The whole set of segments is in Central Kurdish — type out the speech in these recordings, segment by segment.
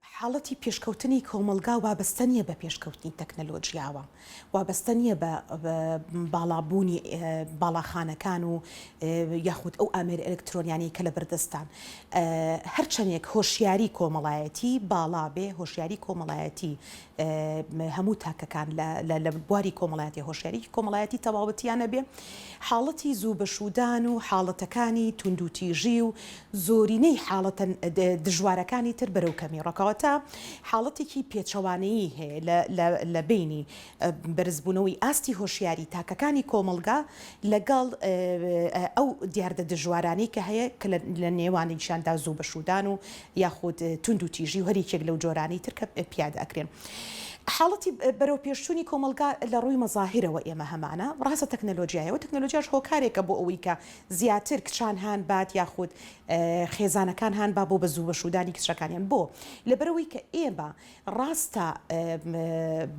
حاڵەتی پێشکەوتنی کۆمەڵگا وابەستە نییە بە پێشکەوتنی تەکنەلۆژیاوە، وابەستە نییە بە باڵابوونی باڵاخانەکان و یاخود ئەو ئامێرە ئەلکترۆنیانەی کە لەبەردەستان. هەرچەندێک هۆشیاری کۆمەڵایەتی باڵا بێ، هۆشیاری کۆمەڵایەتی هەموو تاکەکان لە بواری کۆمەڵایەتی هۆشیاریی کۆمەڵایەتی تەواوەتییان هەبێ، حاڵەتی زوو بەشوودان و حاڵەتەکانی توندوتیژی و زۆرینەی حاڵەتە دژوارەکانی تر بەرەو کەمی ڕۆکەوەتە حاڵەتێکی پێچەوانەیی هەیە لە بەینی بەرزبوونەوەی ئاستی هۆشیاری تاکەکانی کۆمەڵگا لەگەڵ ئەو دیاردە دژوارانەی کە هەیە کە لە نێوانیشیاندا زوو بەشوودان و یاخود توندوتیژی و هەر یەکێک لەو جۆرانەی تر کە پیادە ئەکرێن. حاڵەتی بەرەوپێشچوونی کۆمەڵگا لە ڕووی مەزاهیرەوە ئێمە هەمانە، ڕاستە تەکنەلۆژیایە و تەکنەلۆژیاش هۆکارێکە بۆ ئەوەی کە زیاتر کچان هان بات یاخود خێزانەکان هان با بۆ بە زوو بەشوودانی کچەکانیان بۆ؟ لەبەرئەوەی کە ئێمە ڕاستە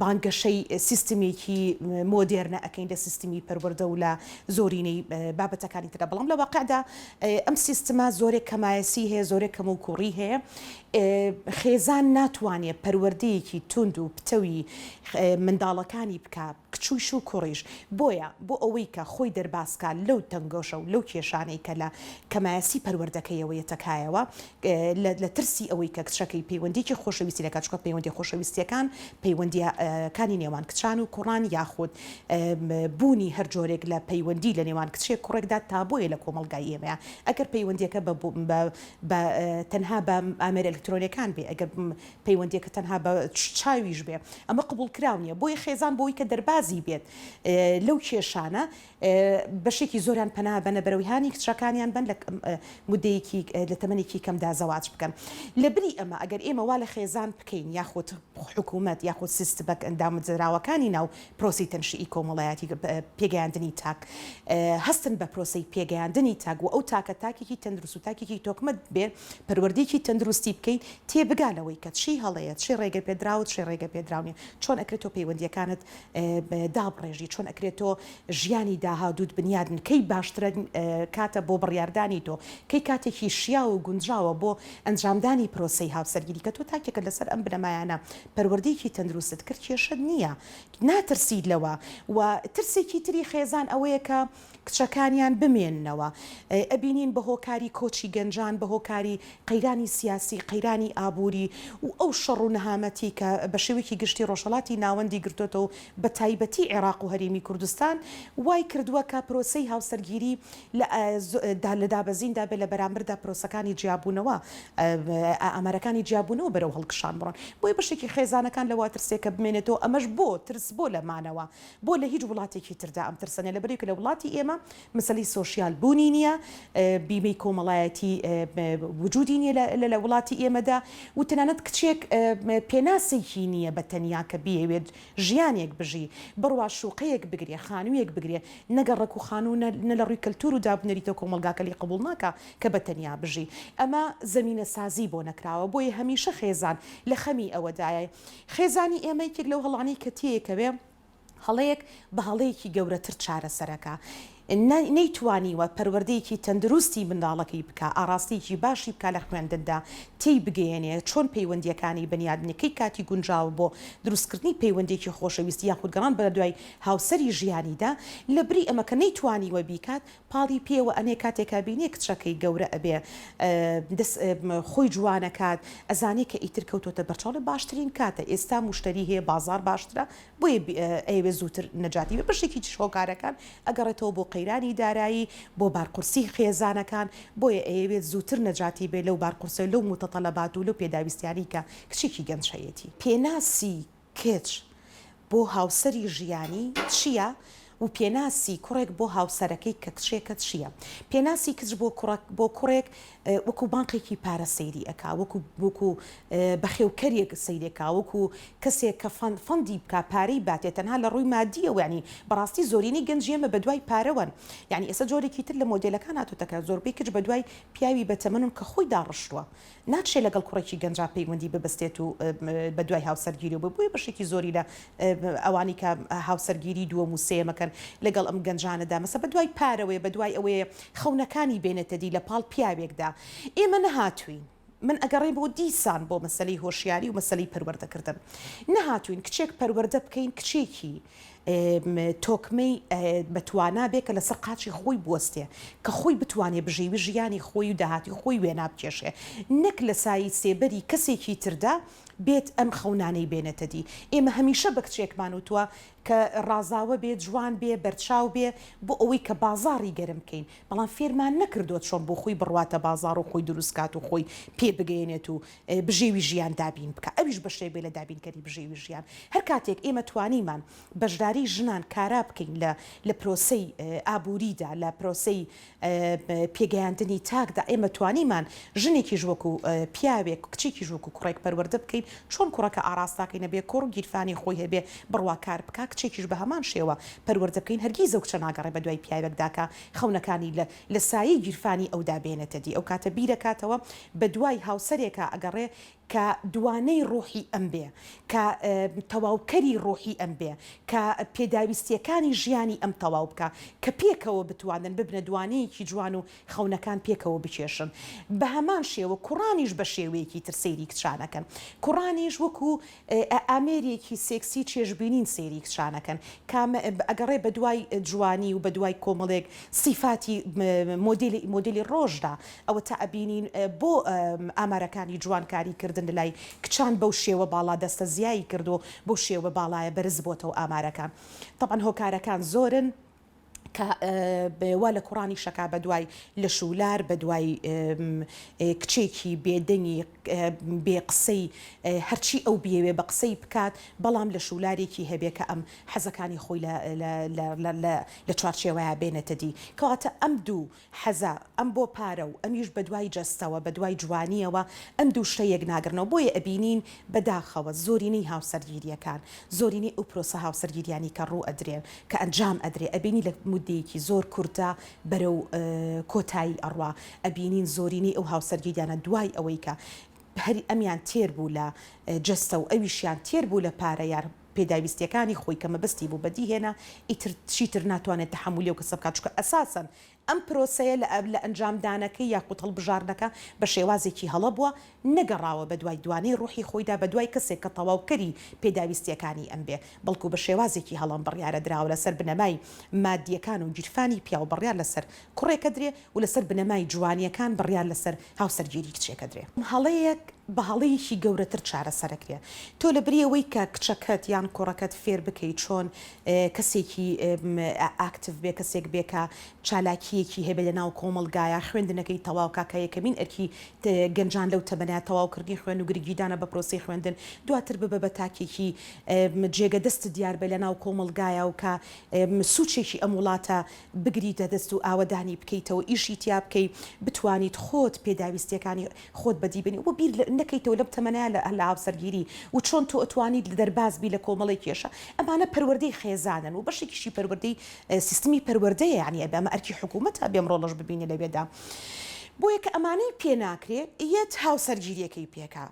بانگەشەی سیستمێکی مۆدێرنە ئەکەین لە سیستمی پەروەردە و لە زۆرینەی بابەتەکانی تردا، بەڵام لە واقعدا ئەم سیستمە زۆرێک کەمایەسیی هەیە، زۆرێک کەموکووڕیی هەیە. خێزان ناتوانێت پەروەردەیەکی توند و پتەوی منداڵەکانی بکات، کچیش و کوڕیش، بۆیە بۆ ئەوەی کە خۆی دەرباز کا لەو تەنگۆشە و لەو کێشانەی کە لە کەمایەسی پەروەردەکەیەوە یەتە کایەوە لە لە ترسی ئەوەی کە کچەکەی پەیوەندیەکی خۆشەویستی لەکات چونکە پەیوەندیە خۆشەویستیەکان پەیوەندیە کانی نێوان کچان و کوڕان یاخود بوونی هەر جۆرێک لە پەیوەندی لە نێوان کچێک کوڕێکدا تابۆیە لە کۆمەڵگای ئێمەیا ئەگەر پەیوەندیەکە بە بە تەنها بە ئامێرە ئەلکترۆنیەکان بێ ئەگەر پەیوەندیەکە تەنها بە چاویش بێ ئەمە قبوڵ کراو نیە بۆیە خێزان بۆی کە دەربازی بێت لەو کێشانە بەشێکی زۆران پەنا بەنە بەرەوەی هانی کچەکانیان بن لە مدەیەکی لە تەمەێکی کەمدا زەواج بکەن لە بری ئەمە ئەگەر ئێمە وا لە خێزان بکەین یاخود حکوومەت یاخود سیست بەک ئەندامزراوەکانی ناو پرۆسی تەنشی کۆمەڵایەتی پێگەیاندنی تاک هەستن بە پرۆسی پێگەیاندنی تاک و ئەو تاکە تاکێکی تەندروست و تاکێکی تۆکمە بێ پەروەردەیەکی تەندروستی بکەیت تێ بگا لەوەی کە چی هەڵەیە چی ڕێگە پێدراوە چی ڕێگە پێدراو نیە چۆن ئەکرێت تۆ پەیوەندیەکانت دابڕێژی چۆن ئەکرێت تۆ ژیانی داهادووت بنیادن کەی باشترە کاتە بۆ بڕیاردانی تۆ کەی کاتێکی شیاو و گونجاوە بۆ ئەنجامدانی پرۆسەی هاوسەرگیری کە تۆ تاکێکە لەسەر ئەم بنەمایانە پەروەردەیەکی تەندروستت کرد کێشەت نیە ناترسیت لەوە و ترسێکی تری خێزان ئەوەیە کە کچەکانیان بمێننەوە، ئەبینین بە هۆکاری کۆچی گەنجان، بە هۆکاری قەیرانی سیاسی، قەیرانی ئابووری و ئەو شەڕ و نەهامەتی کە بە شێوەیەکی گشتی ڕۆژهەڵاتی ناوەندی گرتۆتە و بە تایبەتی عێراق و هەرێمی کوردستان وای کردووە کە پرۆسەی هاوسەرگیری لە لە دابەزیندا بێت لە بەرامبەردا پرۆسەکانی جیابوونەوە ئامارەکانی جیابوونەوە بەرەو هەڵکشان بڕۆن بۆیە بەشێکی خێزانەکان لەوە ترسێکە بمێنێتەوە ئەمەش بۆ ترس بۆ لە مانەوە بۆ لە هیچ وڵاتێکی تردا ئەم ترسە نیە لەبەریکە لە وڵاتی ئێمە مسەلەی سۆشیال بوونی نیە بیمەی کۆمەڵایەتی وجودی نیە لە لە وڵاتی ئێمەدا و تەنانەت کچێک پێناسێکی نیە بە تەنیا کە بیەوێت ژیانێک بژی بڕوا شوقەیەک بگرێ خانوویەک بگرێ نەگە ڕێک و خانوو نە لە ڕووی کەلتور و دابنەریتە کۆمەڵگاکە لی قبوڵ ناکا کە بە تەنیا بژی ئەمە زەمینە سازی بۆ نەکراوە بۆیە هەمیشە خێزان لە خەمی ئەوەدایە خێزانی ئێمە یەکێک لەو هەڵانەی کە تێیەکەوێ هەڵەیەک بە هەڵەیەکی گەورەتر چارەسەرەکا نەیتوانیوە پەروەردەیەکی تەندروستی منداڵەکەی بکە ئاراستەیەکی باشی بکە لە خوێندندا تێی بگەیەنێ چۆن پەیوەندیەکانی بنیادنەکەی کاتی گونجاوە بۆ دروستکردنی پەیوەندێکی خۆشەویستی یاخود گەڕان بە دوای هاوسەری ژیانیدا لە بری ئەمەکە نەیتوانیوە بیکات پاڵی پێوە ئەنێ کاتێک ئەبینێ کچەکەی گەورە ئەبێ دەست خۆی جوانەکات ئەزانێ کە ئیتر کەوتۆتە بەرچاڵێ باشترین کاتە ئێستا مشتری هەیە بازار باشترە بۆیە ئەیەوێ زووتر نەجاتی بە بەشێکی چش هۆکارەکان ئەگەڕێتەوە بۆ قەیرانی دارایی بۆ بارقورسی خێزانەکان بۆیە ئەیەوێت زووتر نەجاتی بێ لەو بارقورسە لەو متەتەلەبات و لەو پێداویستیانی کە کچێکی گەنج هەیەتی پێناسی کچ بۆ هاوسەری ژیانی چییە و پێناسی کوڕێک بۆ هاوسەرەکەی کە کچێکە چییە؟ پێناسی کچ بۆ بۆ کوڕێک وەکو بانقێکی پارە سەیری ئەکا وەکو وەکو بەخێوکەرێک سەیرێکا وەکو کەسێک کە فەند فەندی بکە پارەی باتێ تەنها لە ڕووی مادیەوە ینی بەڕاستی زۆرینی گەنج ئێمە بە دوای پارەوەن ینی ئێستا جۆرێکی تر لە مۆدلەکان هاتوتەکە زۆربەی کچ بە دوای پیاوی بەتەمەنون کە خۆی داڕشتووە ناتشێ لەگەڵ کوڕێکی گەنجا پەیوەندی ببەستێت و بەدوای هاوسەرگیری بێت، بۆیە بەشێکی زۆری لە ئەوانەی کە هاوسەرگیری دووەم و سێیەم ئەکەن لەگەڵ ئەم گەنجانەدا مەسە بەدوای پارەوەیە بەدوای ئەوەیە خەونەکانی بێنێتە دی لەپاڵ پیاوێکدا ئێمە نەهاتووین من ئەگەڕێ بۆ دیسان بۆ مەسەلەی هۆشیاری و مەسەلەی پەروەردەکردن نەهاتووین کچێک پەروەردە بکەین کچێکی تۆکمەی بە توانا بێ کە لەسەر قاچی خۆی بوەستێ کە خۆی بتوانێ بژێوی ژیانی خۆی و داهاتی خۆی وێنا بکێشێ نەک لە سایی سێبەری کەسێکی تردا بێت ئەم خەونانەی بێنێتە دی ئێمە هەمیشە بە کچێکمان وتوە کە ڕازاوە بێ جوان بێ بەرچاو بێ بۆ ئەوەی کە بازاڕی گەرم بکەین بەڵام فێرمان نەکردوە چۆن بۆ خۆی بڕواتە بازاڕ و خۆی دروست کات و خۆی پێ بگەیەنێت و بژێوی ژیان دابین بکا ئەویش بەشێک بێ لە دابینکەری بژێوی ژیان هەر کاتێک ئێمە توانیمان بەشداری ژنان کارا بکەین لە لە پرۆسەی ئابووریدا لە پرۆسەی پێگەیاندنی تاکدا ئێمە توانیمان ژنێکیش وەکو پیاوێک کچێکیش وەکو کوڕێک پەروەردە بکەین چۆن کوڕەکە ئاراستاکەی نەبێ کوڕ گیرفانی خۆی هەبێ بڕوا کار بکا کچێکیش بە هەمان شێوە پەروەردە بکەین هەرگیز ئەو کچە ناگەڕێ بە دوای پیاوێکدا کە خەونەکانی لە لە سایەی گیرفانی ئەودا بێنێتە دی، ئەوکاتە بیرەکاتەوە بە دوای هاوسەرێکا ئەگەڕێ کە دوانەی ڕۆحی ئەم بێ، کە تەواوکەری ڕۆحی ئەم بێ، کە پێداویستییەکانی ژیانی ئەم تەواو بکا، کە پێکەوە بتوانن ببنە دوانەیەکی جوان و خەونەکان پێکەوە بکێشن. بە هەمان شێوە کوڕانیش بە شێوەیەکی تر سەیری کچانەکەن. کوڕانیش وەکوو ئە ئامێرێکی سێکسی چێژ بینین سەیری کچانەکەن کام ە ئەگەڕێ بە دوای جوانی و بە دوای کۆمەڵێک سیفاتی مۆدیل مۆدیلی ڕۆژدا ئەوەتا ئەبینین بۆ ئامارەکانی جوانکاری کردن لەلای کچان بەو شێوە باڵا دەستە زیایی کردووە بەو شێوە باڵایە بەرز بۆتەوە ئامارەکان تەبعەن هۆکارەکان زۆرن کە وا لە کوڕانی شەکا بەدوای لەش و لار بەدوای کچێکی بێدەنگی بێ قسەی هەرچی ئەو بیەوێ بە قسەی بکات بەڵام لە شولارێکی هەبێ کە ئەم حەزەکانی خۆی لە چوارچێوەیە بێنێتە دی کەواتە ئەم دوو حەزە، ئەم بۆ پارە و ئەمیش بەدوای جەستەوە، بەدوای جوانییەوە، ئەم دوو شتە یەک ناگڕنەوە، بۆیە ئەبینین بەداخەوە زۆرینەی هاوسەرگیرییەکان، زۆرینەی ئەو پرۆسە هاوسەرگیرییانەی کە ڕوو ئەدرێن، کە ئەنجام ئەدرێ، ئەبینی لە موددەیەکی زۆر کورتدا بەرەو کۆتایی ئەڕوا، ئەبینین زۆرینەی ئەو هاوسەرگیرییانە دوای ئەوەی کە هەر ئەمیان تێر بوو لە جەستە و ئەویشیان تێر بوو لە پارە، یار پێداویستیەکانی خۆی کە مەبەستی بوو بەدی هێنا ئیتر چیتر ناتوانێت تەحەمولی ئەو کەسە بکات چونکە ئەساسەن ئەم پرۆسەیە لە لە ئەنجامدانەکەی یاخود هەڵبژاردنەکە بە شێوازێکی هەڵە بووە نەگەڕاوە بەدوای دوانەی ڕوحی خۆیدا بەدوای کەسێک کە تەواوکەری پێداویستیەکانی ئەم بێ بەڵکو بە شێوازێکی هەڵە ئەم بڕیارە دراوە لەسەر بنەمای مادیەکان و گیرفانی پیاو بڕیار لەسەر کوڕێک ئەدرێ و لەسەر بنەمای جوانییەکان بڕیار لەسەر هاوسەرگیری کچێکە درێ. هەڵەیەک بە هەڵەیەکی گەورەتر چارەسەرەکرێ. تۆ لە بری ئەوەی کە کچەکەت یان کوڕەکەت فێر بکەی چۆن کەسێکی ئاکتیڤ بێ، کەسێک بێ کە چالاکییەکی هەبێ لە ناو کۆمەڵگایە، خوێندنەکەی تەواو کا کە یەکەمین ئەرکی گەنجان لەو تەمەنە تەواوکردنی خوێن و گرنگیدانە بە پرۆسەی خوێندن، دواتر ببە بە تاکێکی جێگە دەست دیار بە لە ناو کۆمەڵگایە و کە سوچێکی ئەم وڵاتە بگریتە دەست و ئاوەدانی بکەیتەوە ئیشی تیا بکەی بتوانیت خۆت پێداویستیەکانی خۆت بەدی بێنی و بیر نەکەیتەوە لەم تەمەنە لە هاوسەرگیری و چۆن تۆ ئەتوانیت دەرباز بی لە کۆمەڵی کێشە ئەمانە پەروەردەی خێزانن و بەشێکیشی پەروەردەی سیستمی پەروەردەیە یانی ئەبێ ئەمە ئەرکی حکومەتە ئەبێ ئەم ڕۆڵەش ببینێ لەوێدا بۆیە کە ئەمانەی پێناکرێ یەت هاوسەرگیریەکەی پێکا.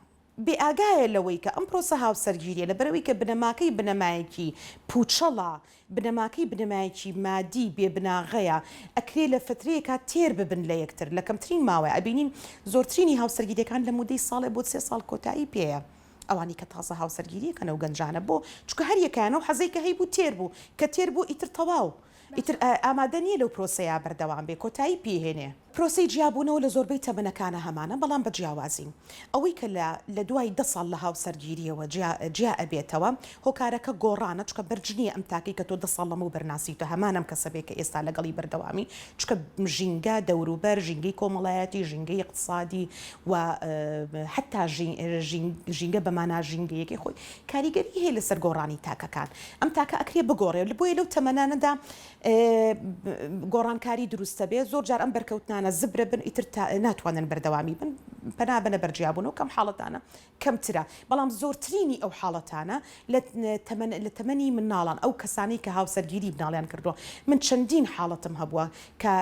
بێ ئاگایە لەوەی کە ئەم پرۆسە هاوسەرگیریە لە بەرئەوەی کە بنەماکەی بنەمایەکی پوچەڵە، بنەماکەی بنەمایەکی مادی بێ بناغەیە، ئەکرێ لە فترەیەکا تێر ببن لە یەکتر لە کەمترین ماوەیا ئەبینین زۆرترینی هاوسەرگیریەکان لە مودەی ساڵێ بۆ سێ ساڵ کۆتایی پێیە ئەوانەی کە تازە هاوسەرگیریەکەنەو گەنجانە بۆ چونکە هەر یەکەیان ئەو حەزەی کە هەیبوو تێر بوو کە تێر بوو ئیتر تەواو ئیتر ئامادە نییە لەو پرۆسەیە بەردەوام بێ کۆتایی پێی هێنێ. پرۆسەی جیابوونەوە لە زۆربەی تەمەنەکانە هەمانە بەڵام بە جیاوازی ئەوەی کە لە لە دوای دە ساڵ لە هاوسەرگیرییەوە جیا جیا ئەبێتەوە هۆکارەکە گۆڕانە چونکە بەرج نییە ئەم تاکەی کە تۆ دە ساڵ لەمەوبەر ناسیوتە هەمان ئەم کەسە بێ کە ئێستا لەگەڵی بەردەوامی چونکە ژینگە دەوروبەر ژینگەی کۆمەڵایەتی ژینگەی ئیقتسادی و حەتتا ژینگە بە مانا ژینگەیەکەی خۆی کاریگەری هەیە لەسەر گۆڕانی تاکەکان ئەم تاکە ئەکرێ بگۆڕێ بۆیە لەو تەمەنانەدا گۆڕانکاری دروستە بێ زۆر جار ئەم بەرکەوتنانە زبرە بن ئیتر ناتوانن بەردەوامی بن پەنا بەنە بەرجیابوونەوە کەم حاڵەتانە کەمترە بەڵام زۆرترینی ئەو حاڵەتانە لە تەمەن لە تەمەنی مناڵان ئەو کەسانی کە هاوسەرگیری بناڵیان کردووە من چەندین حاڵەتم هەبووە کە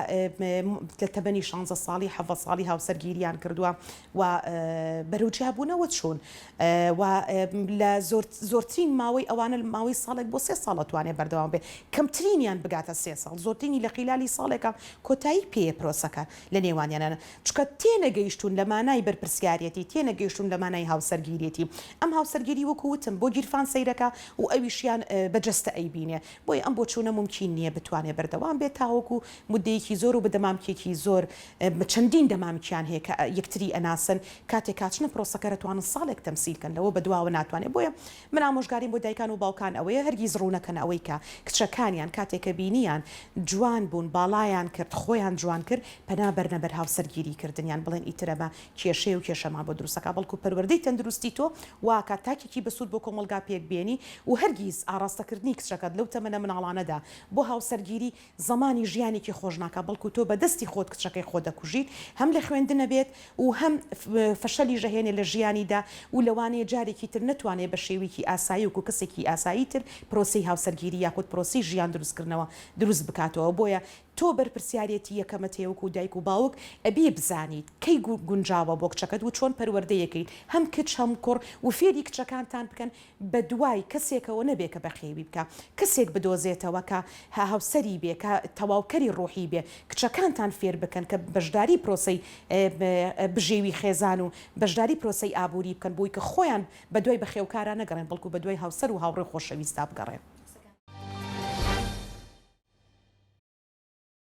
لە تەمەنی شانزە ساڵی حەڤە ساڵی هاوسەرگیریان کردووە و بەرەو جیابوونەوە چوون و لە زۆرترین ماوەی ئەوانە ماوەی ساڵێک بۆ سێ ساڵ ئەتوانێت بەردەوام بێت، کەمترینیان بگاتە سێ ساڵ، زۆرترینی لە خیلالی ساڵێکە کۆتایی پێیە پرۆسەکە لە نێوانیانا، چونکە تێنەگەیشتوون لە مانای بەرپرسیارێتی، تێنەگەیشتوون لە مانای هاوسەرگیریی، ئەم هاوسەرگیری وەکو وتم بۆ گیرفان سەیرەکە و ئەویشیان بە جەستە ئەیبینێ، بۆیە ئەم بۆچوونە مومکین نییە بتوانێت بەردەوام بێت تاوەکو مودەیەکی زۆر و بە دەمامکێکی زۆر چەندین دەمامکیان هەیە کە یەکتری ئەناسن کاتێ کاچنە پرۆسەکە رەتوانن ساڵێک تەمسیل کەن لەوە بەدواوە ناتوانێ بۆیە من ئامۆژگاریم بۆ دایکان و باوکان ئەوەیە هەرگیز رونەکەن ئەوەی کە کچەکانیان کاتێ کە بینیان جوان بون باڵایان کرد خۆیان جوان کرد پەنا بەرنە بەر هاوسەرگیری کردنیان بڵێن ئیتر ئەمە کێشەیە و کێشەمان بۆ دروستەکا بەڵکو پەروەردەی تەندروستی تۆ واکات تاکێکی بەسود بۆ کۆمەڵگا پێک بێنی و هەرگیز ئاڕاستە کردنی کچەکەت لەو تەمەنە مناڵانەدا بۆ هاوسەرگیری زمانی ژیانێکی خۆش ناکات بەڵکو تۆ بەدەستی خۆت کچەکەی خۆت دەکوژیت هەم لە خوێندنە بێت و هەم فەشەلیش ئەهێنێت لە ژیانیدا و لەوانەیە جارێکی تر نەتوانێت بە شێویکی ئاسایی وەکو کەسێکی ئاسایی تر پرۆسەی هاوسەرگیری یاخود پرۆسەی ژیان دروست کردنەوە دروست بکاتەوە بۆیە تۆ بەرپرسیارێتی یەکەمت هەیە وەکو دایک و باوک ئەبی بزانیت کەی گونجاوە بۆ کچەکەت وچۆن پەروەردەی ئەکەیت هەم کچ هەم کوڕ وفێری کچەکانتان بکەن بەدوای کەسێکەوە نەبێ کە بەخێوی بکا، کەسێک بدۆزێتەوە کە هاوسەری بێ، کە تەواوکەری ڕووحی بێ، کچەکانتان فێر بکەن کە بەشداری پرۆسەی بژێوی خێزان و بەشداری پرۆسەی ئابووری بکەن بۆی کە خۆیان بەدوای بەخێوکارا نەگەڕێن بەڵکو بەدوای هاوسەر و هاوڕێ و خۆشەویستا بگەڕێن.